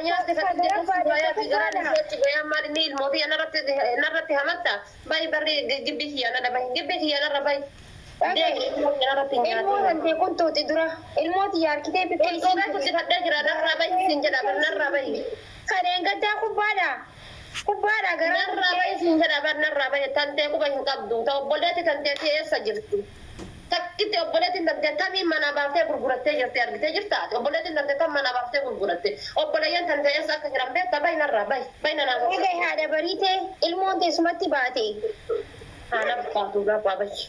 Nyaatti kan itti dhuftu bayaa fi garaan ishee itti bayaa maal inni ilmoo fi narratti hamatta bayi barri gibbii kiyyaa nana bayi gibbii kiyyaa narra bayi. Ilmoo hantee quntuuti dura ilmoo tiyya harkitee bikkee ishee. Quntuuta guddifadhee jira narraa bayi siin jedha bar narraa bayi. Kadheen gaddaa kubbaadha. Gubbaadhaa garaa Narraa gubbee. bahi siin jedha bar narraa bahi tantee quba hin qabdu ta obbolleetti tanteetii eessa jirti takkitti obboleettiin tantee tamiin manaa baaftee gurgurattee jirti argitee jirta ati obboleettiin tantee tam manaa baaftee gurguratte obboleeyyan tantee eessa akka jiran beekta bahi narraa bahi bahi nanaa Dhagahi sossobbii haadha bariitee ilmoon tee sumatti baate. haa naf baatu narraa bahi.